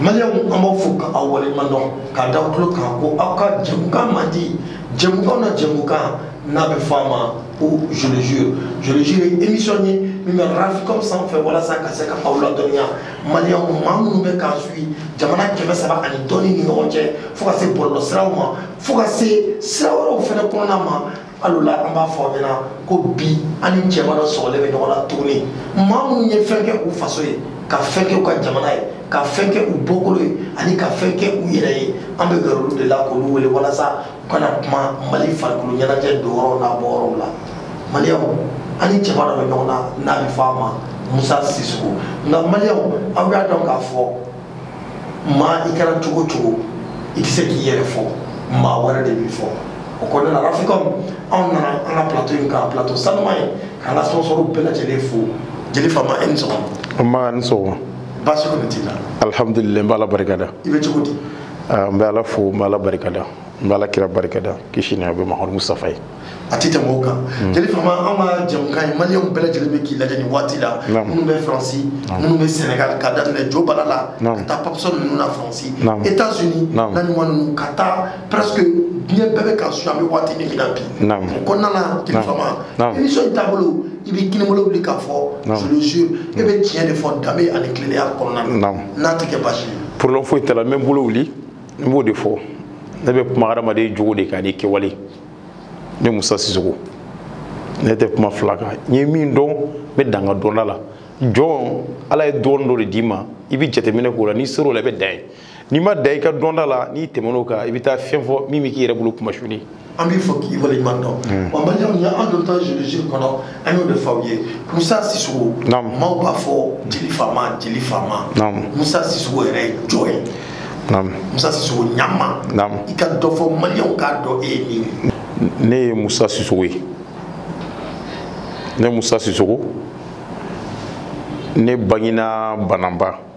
maliyɛnw an b'aw fo ka aw waleɲuman dɔn k'a da aw tulo kan ko aw ka jɛmukan mandi jɛmukanw na jɛmukan n'a bɛ fɔ a ma ko je le jure je le jure ye émission ye min bɛ rafikɔm sanfɛ walasa ka se ka aw ladɔnniya maliyɛnw maa minnu bɛ k'an suivre jamana kɛmɛ saba ani dɔɔni ni ɲɔgɔn cɛ fo ka se bɔlɔlɔ siraw ma fo ka se sira wɛrɛw fɛnɛ kɔnɔna ma alors là an b'a fɔ aw ɲɛna ko bi an ni cɛba dɔ sɔgɔlen bɛ ɲɔgɔn na tuguni maa minnu ye fɛn kɛ u faso ye ka fɛn kɛ u ka jamana ye ka fɛn kɛ u bɔkolo ye ani ka fɛn kɛ u yɛrɛ ye an bɛ gɛrɛ olu de la k'olu wele walasa u ka na kuma mali farikolo ɲɛnajɛ don yɔrɔw n'a bɔ yɔrɔw la maliyɛnw an ni cɛba dɔ bɛ ɲɔgɔn na n'a bɛ fɔ a ma musa sisoko nka maliyɛnw aw y'a dɔn k'a fɔ maa i kɛra cogo o cogo i tɛ se k'i yɛrɛ fɔ maa wɛrɛ de b'i fɔ o kɔnɔna na rafikɔm anw nana an ka plateau in kan plateau sanuman ye k'an ka sponsorw bɛɛ lajɛlen fo jeli fama e ni sɔgɔma. nba i ni sɔgɔma. baasi kɔni t'i la. alihamdulilayi n b'ala barikada. i bɛ cogo di. ah, n bɛ ala fo n bɛ ala barikada n bɛ ala kira barikada kisi ni a bɛ mahamadu mustafa ye a tɛ tɛmɛ o kan hmm. jeli fama an ka jɛmukan ye maliyɛnw bɛɛ lajɛlen bɛ k'i lajɛ nin waati la minnu bɛ faransi minnu bɛ sɛnɛgali ka daminɛ jo bala la ka taa papsɔn ninnu na faransi etats unis naɲuman ninnu ka taa presque diɲɛ bɛɛ bɛ k'an suivre an bɛ waati min na bi o kɔnɔna na jeli fama émission in taabolo i bɛ kinibolo wuli k'a fɔ je le jure e bɛ tiɲɛ de fɔ danbe ani tilennenya kɔnɔna na n'a tɛ kɛ baasi ye problème foyi t'a la n bɛ n bolo wuli n b'o de fɔ ne bɛ kuma hadamaden jogo de kan ni kɛwale ne musa sisoko ne tɛ kuma fila kan n ye min dɔn n bɛ dan n ka dɔnda la jɔn ala ye dɔɔni dɔ de d'i ma i bɛ jateminɛ k'o la n'i ser'o la i bɛ dan yen n'i ma dan i ka dɔnda la n'i tɛmɛn'o kan i bɛ taa fɛn fɔ min bɛ k'i yɛrɛ bolo kunmasuli an b'i fo k'i waleɲuman dɔn hmm. wa maliyɛnw ye an dontɔ je le jure kɔnɔ an y'o de fɔ aw ye musa sisoko maaw b'a fɔ jeli fama jeli fama musa sisoko yɛrɛ ye jɔn ye musa sisoko ɲama i ka dɔ fɔ maliyɛnw k'a dɔn e ye min ye ne ye musa sisoko ye ne musa sisoko ne bangina bananba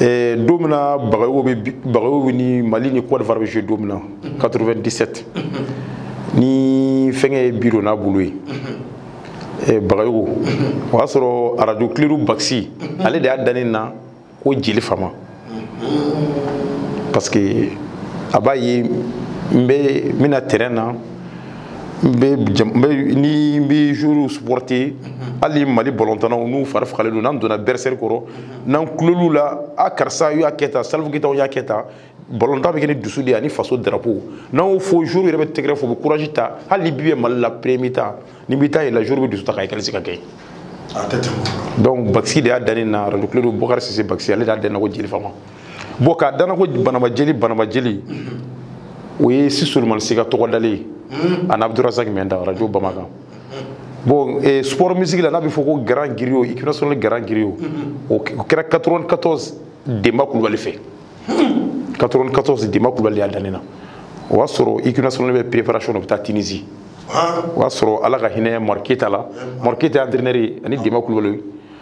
Eh, don min na bagayogo bagayogo ni mali ni cote d'ivoire bɛ jouer don min na 97 ni fɛnkɛ ye bi don n'a bolo ye eh, bagayogo o y'a sɔrɔ arajo kledu bakisi ale de y'a da ne na ko jeli fama parce que a b'a ye n bɛ n bɛna terrain na n bɛ n bɛ ni n bɛ joueurs supporter hali mali balɔntannaw n'u fari fagalen don n'an donna vestiaire kɔnɔ n'an kulol'u la a karisa y'a kɛ tan salifu keyitaw y'a kɛ tan balɔntan bɛ kɛ ni dusu de ye ani faso drapeau n'an y'o fɔ joueurs yɛrɛ bɛ tɛgɛrɛ fɔ u bɛ courage ta hali ni bi bɛ mali la premier mi-temps ni bɛ taa yɛlɛ la joueurs bɛ dusu ta ka égaliser ka kɛ donc bakisi de y'a da ne na radio kledu bakari sise bakisi ale de y'a da ne na ko jeli fama bon k'a da n na ko banamba jeli banamba jeli o ye si solomani si ka tɔgɔ dalen ye hmm. ani abdurazaki minta arajo bamakan bon eh, sport musique la n'a bɛ fɔ ko grand griot équipe nationale grand griot o kɛra 94 denba kulubali fɛ 94 denba kulubali y'a da ne na o y'a sɔrɔ équipe nationale bɛ préparation na u bɛ taa tunisie o y'a sɔrɔ ala ka hinɛ madu keyita la madu keyita entraîneur ye ani denba kulubali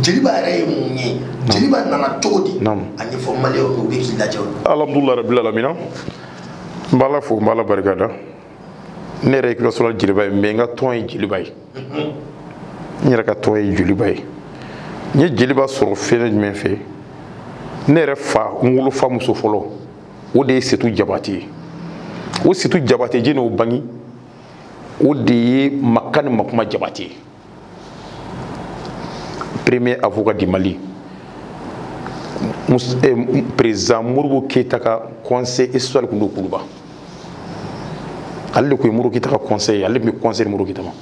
jeliba yɛrɛ ye mun ye jeliba nana cogo di a ɲɛfɔ maliyɛw u bɛ k'i lajɛ alhamdulilayi rabbil alamina n b'ala fo n b'ala barika da ne yɛrɛ ye équipe nationale jeliba ye mɛ n ka tɔn ye jeliba ye n yɛrɛ ka tɔn ye jeliba ye n ye jeliba sɔrɔ fɛn jumɛn fɛ ne yɛrɛ fa n wolofa muso fɔlɔ o de ye setu jabate ye o setu jabate jɔni y'o bangi o de ye makani makuma jabate ye premier avocat du mali eh, président modibo keyita ka conseiller spécial tun don kuluba ale de tun ye modibo keyita ka conseiller ye ale tun bɛ conseil di modibo keyita ma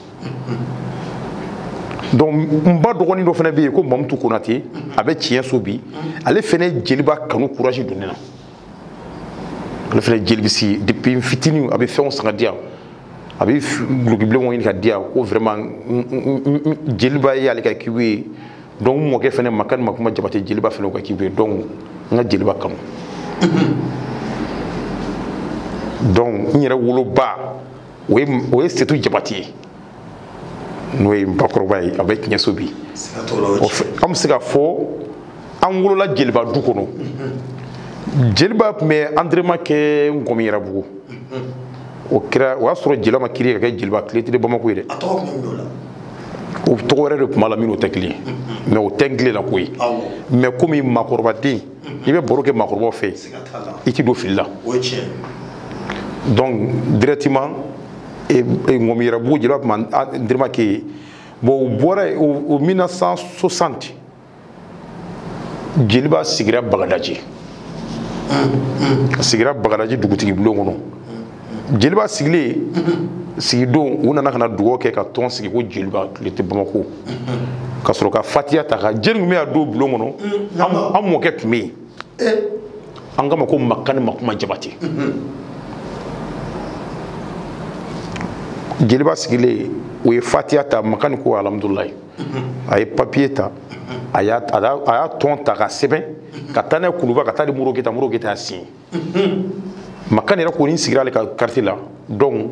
donc n ba dɔgɔnin dɔ fana bɛ yen ko mamutu konate a bɛ tiɲɛ so bi ale fana ye jeliba kanu courage don ne na ale fana jelibisi depuis n fitinin a bɛ fɛnw san ka di yan a bɛ dulokibilenw ɲini ka di yan ko vraiment jeliba ye ale ka équipe ye donc n mɔkɛ fana makani makuma jabate jeliba fana ka équipe ye donc n ka jeliba kanu donc n yɛrɛ woloba o ye o ye setu jabate ye n'o ye n bakɔrɔba ye a bɛ tiɲɛso bi an bɛ se ka fɔ an wolola jeliba du kɔnɔ jeliba tun bɛ entraînement kɛ ŋɔmiyiranbugu o kɛra o y'a sɔrɔ jeliba ma créé ka kɛ jeliba athlétique de bamako ye dɛ o tɔgɔ wɛrɛ de tun b'a la min n'o tɛ kelen ye mɛ o tɛ n tile la ko ye mɛ komi maakɔrɔbaden i bɛ baro kɛ maakɔrɔbaw fɛ i tɛ don fili la donc directement ŋɔmiyiranbugu jeliba tun bɛ entraînement kɛ yen bon u bɔra yen o 1960 jeliba sigira bagadaji a sigira bagadaji dugutigi bulon kɔnɔ jeliba sigilen sigidon u nana ka na dugawu kɛ ka tɔn sigi ko jeliba tile tɛ bamako ka sɔrɔ ka fatiya ta ka jeli tun bɛ yen a don bulon kɔnɔ an mɔkɛ tun bɛ yen an k'a ma ko makani makuma jabate jeliba sigilen u ye fatiya ta makani ko alhamdulilayi a ye papiye ta a y'a tɔn ta ka sɛbɛn ka taa n'a ye kuluba ka taa di moro keyita moro keyita y'a siɲɛ makani yɛrɛ kɔni sigira ale ka kartiye la donc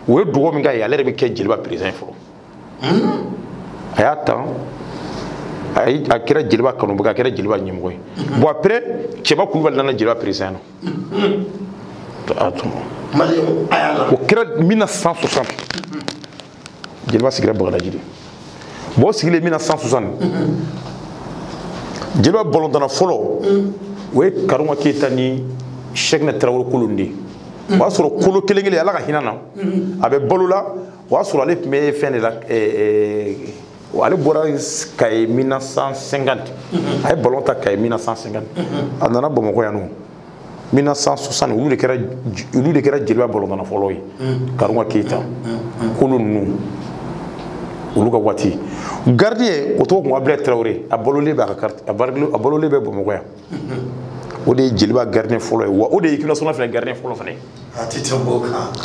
o ye dugawu min k'a ye ale yɛrɛ bɛ kɛ jeliba perezidan ye fɔlɔ a y'a ta a kɛra jeliba kanubaga a kɛra jeliba ɲɛmɔgɔ ye bon après cɛba kulubali nana jeliba perezidan na o kɛra 1960 jeliba sigira bagadaji de bon o sigilen 1960 jeliba balɔntana fɔlɔ o ye karunga keyita ni sɛkina tarawele kolo de ye o y'a sɔrɔ kolo kelen kelen ala ka hinɛ a na a bɛ balo la o y'a sɔrɔ ale tun bɛ fɛn de la ale bɔra kaye 1950 a ye balon ta kaye 1950 a nana bamakɔ yan nɔ 1960 olu de kɛra olu de kɛra jeliba balɔntana fɔlɔ ye mm. karunga keyita mm, mm, kolo ninnu olu ka waati gardien o tɔgɔ ko abdulayi tarawele a balolen bɛ a ka a balolen bɛ bamakɔ yan o de ye jeliba gardien fɔlɔ ye wa o de ye équipe nationale fana gardien fɔlɔ fana ye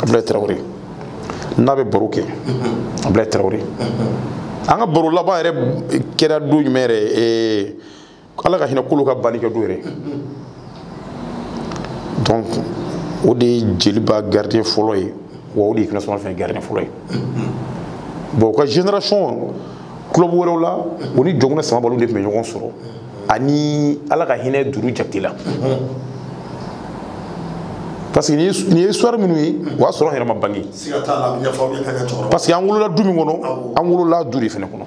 abdulayi tarawele n'a bɛ baro kɛ abdulayi tarawele an ka baro laban yɛrɛ kɛra don jumɛn yɛrɛ ala ka hinɛ kolo ka banni kɛ don yɛrɛ donc o de ye jeliba gardien fɔlɔ ye wa o de ye équipe nationale fana gardien fɔlɔ ye bon u ka génération club wɛrɛw la o ni yakuba samabali de tun bɛ ɲɔgɔn sɔrɔ ani ala ka hinɛ duru jakite la parce que nin ye histoire minnu ye o y'a sɔrɔ an yɛrɛ ma bange parce que an wolola du min kɔnɔ an wolola du de fana kɔnɔ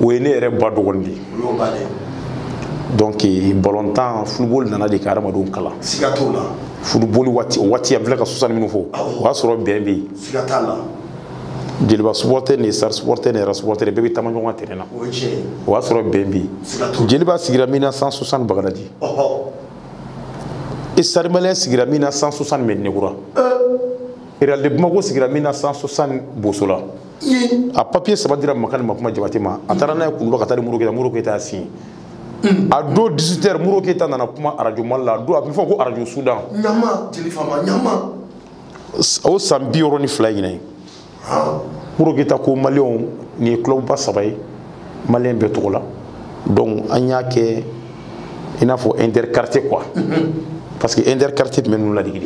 o ye ne yɛrɛ ba dɔgɔnin de ye donc balontan football nana de ka hadamadenw kalan siga t'o la football waati o waati an filɛ ka 60 minnu fɔ o y'a sɔrɔ bɛn bɛ yen siga t'a la jeliba supporter ni stade supporter ni réal supporter bɛɛ bɛ taama ɲɔgɔn ka terrain na o y'a sɔrɔ bɛn bɛ yen jeliba sigira 1960 bagadaji stade malien sigira 1960 mɛdinakura réal de bamako sigira 1960 bosola a papiye saba dira makani makuma jabate ma a taara n'a ye kuluba ka taa di moro keyita moro keyita y'a siɲɛ a don 18 heures moro keyita nana kuma arajo mali la a don a bɛ fɔ ko arajo sudan ɲama jeli fama ɲama o san bi wɔɔrɔ ni fila ɲinan ye moro keyita ko maliyɛnw nin ye kulɔbuba saba ye maliyɛn bɛɛ tɔgɔ la donc an y'a kɛ i n'a fɔ interquartier quoi parce que interquartier tun bɛ ninnu ladigi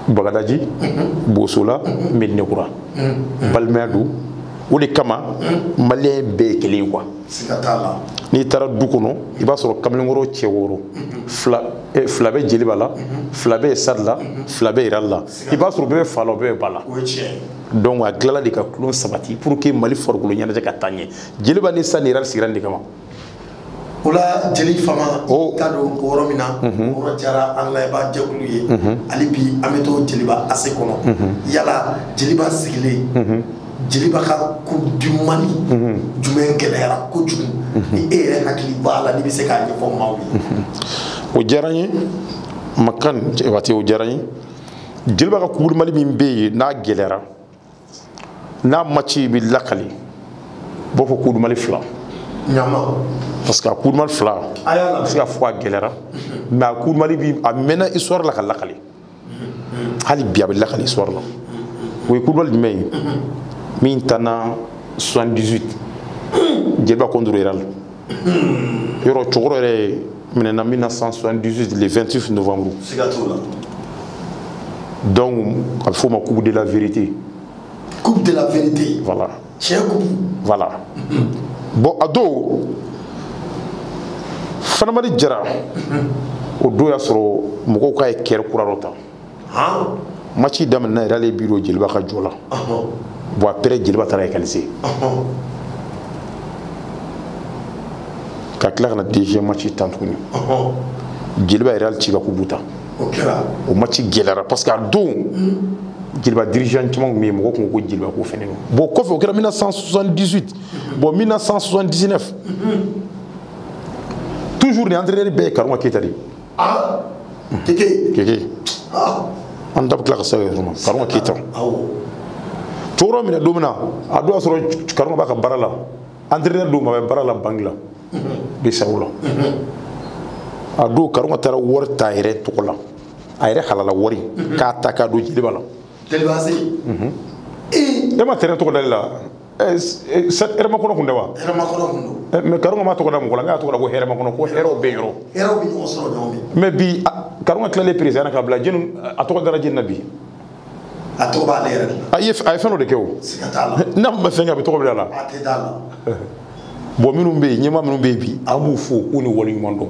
de bagadaji bosola medinekura balimaya don o de kama maliyɛn bɛɛ ye kelen ye quoi n'i taara du kɔnɔ i b'a sɔrɔ kamalenkɔrɔ cɛ wɔɔrɔ fila bɛ jeliba la fila bɛ stade la fila bɛ réal la i b'a sɔrɔ bɛɛ bɛ fa la bɛɛ bɛ ba la donc a tilala de ka tulon sabati pour que mali farikolo ɲɛnajɛ ka taa ɲɛ jeliba ni stade ni réal sigira nin de kama o la jeli fama oh. ka don o yɔrɔ min na o mhm. yɔrɔ diyara an layɛba jɛkulu ye mhm. hali bi an bɛ to jeliba ase kɔnɔ mhm. yala jeliba sigilen jeliba ka coupe du mali jumɛn gɛlɛyara kojugu ni e yɛrɛ hakili b'a la n'i bɛ se k'a ɲɛfɔ maaw ye o diyara n ye makan waati o diyara n ye jeliba ka coupe du mali min bɛ yen n'a gɛlɛyara n'a maci bɛ lakali u b'a fɔ coupe du mali fila parce que a coupe du mali fila a bɛ se ka fɔ a gɛlɛyara mais a coupe du mali bi a mɛnna histoire la ka lakali hali bi a bɛ lakali histoire la o ye coupe du mali jumɛn ye min tanna 78 jeliba contre réal yɔrɔ cɛkɔrɔ yɛrɛ minɛna 1978 le 28 novembre siga t'o la donc a bɛ f'o ma coupe de la vérité coupe de la vérité voilà tiɲɛ coupe voilà bon a don fanamadi jara o don y'a sɔrɔ mɔgɔw k'a ye kɛrɛ kura dɔ ta maci daminɛna réal ye bi don jeliba ka jɔ la bon après jeliba taara égaliser ka tila ka na deuxième maci tan tuguni jeliba ye réal ci ka coupe ta o maci gɛlɛyara parce que a don jeliba dirigeant caman tun bɛ yen mɔgɔ tun ko ko jeliba ko fɛnɛ don bon kɔfɛ o kɛra 1978 bon 1979 toujours ni entraîneur bɛɛ ye karunga keyita de ye aa keke keke aa an da bɛ tila ka se yɔrɔ ma karunga keyita cɛkɔrɔ minɛ don min na a don y'a sɔrɔ karunga b'a ka baara la entraîneur don mais a bɛ baara la banque la bceao la a don karunga taara wari ta a yɛrɛ tɔgɔ la a yɛrɛ halala wari k'a ta k'a don jeliba la jeliba se e ma terrain tɔgɔ dali la hɛrɛmakɔnɔ kun tɛ wa hɛrɛmakɔnɔ kun don mais karunga ma tɔgɔ da mɔgɔ la n'a tɔgɔ da ko hɛrɛmakɔnɔ ko hɛrɛw bɛ yɔrɔ hɛrɛw bɛ ɲɔgɔn sɔrɔ ɲɔgɔn fɛ mais bi karunga tilalen président na ka bila jeni a tɔgɔ dara jɛn na bi a tɔgɔ b'ale yɛrɛ de la a ye fɛn dɔ de kɛ o siga t'a la n'a ma fɛn kɛ a bɛ tɔgɔ bila a la a tɛ d'a la bon minnu bɛ yen ɲɛmaa minnu bɛ yen bi an b'u fo k'u ni waleɲuman dɔn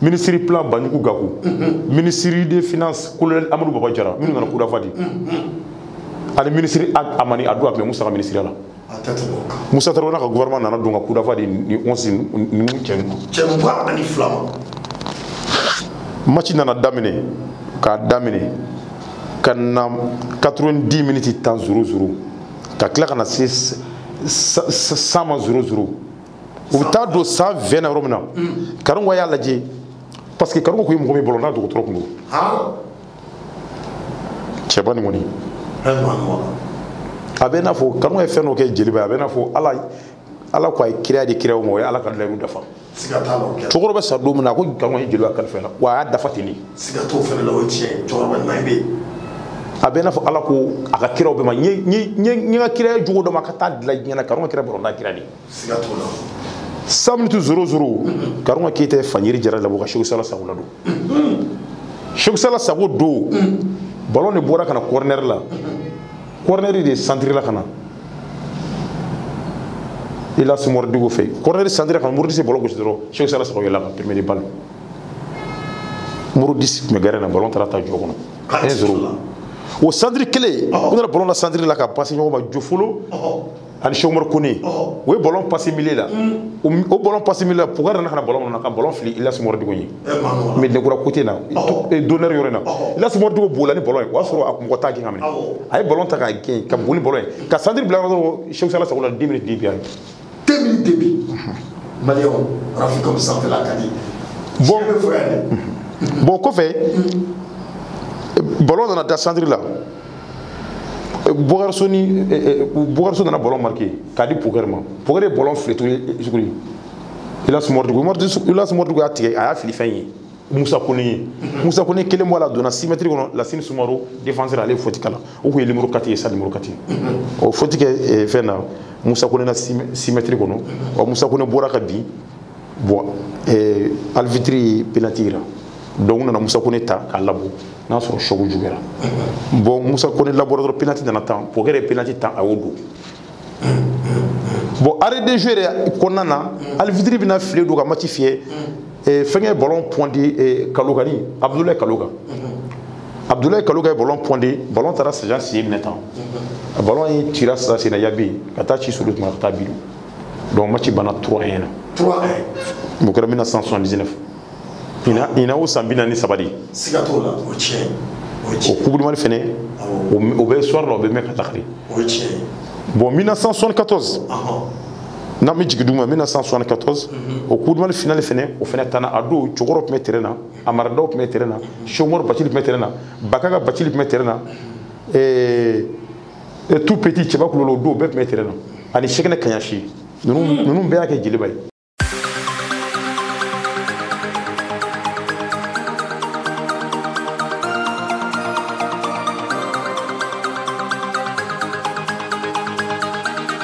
minisiri plan banjugu gaku minisiri des finances colonel amadu baba jara minnu nana coup d'envoi di ani minisiri amani adu a tun bɛ musa ka minisiriya la musa tarawele ka gouvernement nana don ka coup d'envoi di ni onsi ni cɛ mugan ani fila ma match nana daminɛ k'a daminɛ ka na 90 minutes tan zéro zéro ka tila ka na se 100 ma zéro zéro u bɛ taa don 120 na yɔrɔ min na karunga y'a lajɛ parce que karunga kun ye mɔgɔ min bɔlɔn na dɔgɔtɔrɔ kun don cɛba nin kɔni a bɛ n'a fɔ karunga ye fɛn dɔ kɛ joliba ye a bɛ n'a fɔ ala ala ko a ye kira di kira o ma o ye ala ka layiru dafa cɛkɔrɔba bɛ sa don min na a ko karunga ye joliba kalifa la wa a y'a dafa ten de a bɛ n'a fɔ ala ko a ka kiraw bɛɛ ma n ye n ka kira ye jogo dɔ ma ka taa dilan diɲɛ na karunga kɛra bɔlɔn na kira de siga t'o la 100 miniti zéro zéro karunga keyita ye fanyiri jara labɔ ka seku sala sago ladon seku sala sago don balon de bɔra ka na kɔrɔnɛri la kɔrɔnɛri de santirila ka na ilas mɔridugu fɛ kɔrɔnɛri santirila ka na modibo disi bɔlɔn gosi dɔrɔn seku sala sago yɛlɛ ka premier de balle modibo disi tun bɛ gɛrɛ na balon taara taa jɔ kɔnɔ un zéro o santiri kɛlen u nana balon da santiri la ka pasi ɲɔgɔn ma jofolo ani chomor kone o ye bɔlɔn pasi milieu la o bɔlɔn pasi milieu la pokɛri nana ka na bɔlɔn kɔnɔ ka bɔlɔn fili ilas mɔridugu ye mɛ dekura côté na d'honneur yɔrɔ in na ilas mɔridugu bɔla ni bɔlɔn ye o y'a sɔrɔ a mɔgɔ t'a gɛn k'a minɛ a ye bɔlɔn ta k'a gɛn ka boli bɔlɔn ye ka santiri bila yɔrɔ dɔrɔn seku sala sago la deux miniti deux buts yan deux miniti deux buts maliyɛnw rafi kɔmi sanfɛla ka di bon bɛ fɔ yan dɛ bon o kɔfɛ bɔlɔn nana da santiri la Bokari So ni Bokari So nana bɔlɔn marqué k'a di Pokɛri ma Pokɛri ye bɔlɔn fili tuguni tuguni Ilas Mɔridugu Ilas Mɔridugu y'a tigɛ a y'a fili fɛn ye Musa Kone ye Musa Kone kelen bɔ a la a donna 6 mètres kɔnɔ Lasine Sumaro défenseur ale ye faute k'a la o tun ye numéro 4 ye stade numéro 4 o faute kɛ fɛn na Musa Kone na 6 mètres kɔnɔ ɔ Musa Kone bɔra ka bin bɔn eh, arbitre ye penalty yira donc u nana musa kone ta k'a labɔ n'a sɔrɔ choc juguyara bɔn musa kone labɔra dɔrɔn penalty nana tan pokɛrɛ ye penalty tan a y'o don bɔn arrêt de jeu yɛrɛ kɔnɔna na arbitre bɛna file don ka match fiyɛ eh, fɛnkɛ bɔlɔn pɔndi eh, kaloga ni abudulayi kaloga abudulayi kaloga ye bɔlɔn pɔndi bɔlɔn taara sajan siye minɛ tan bɔlɔn ye cira sisan senna yabi ka taa ci sulu tuma ka taa bilu donc match banna 3 1 na 3 1 o kɛra 1979 ina ina o san bi naani ni saba de siga t'o la o tiɲɛ o coupe du mali fɛnɛ o bɛ histoire la o bɛ mɛn ka lakali o tiɲɛ bon 1974 n'an bɛ jigin duguma 1974 o coupe du mali finale fɛnɛ o fɛnɛ tanna a don cɛkɔrɔ tun bɛ terrain na amara daw tun bɛ terrain na chomor bacili tun bɛ terrain na baka ka bacili tun bɛ terrain na ɛɛ e tout petit cɛba kulolo don bɛɛ tun bɛ terrain na ani sekɛnɛ kaɲasi ninnu hmm. ninnu bɛɛ y'a kɛ jeliba ye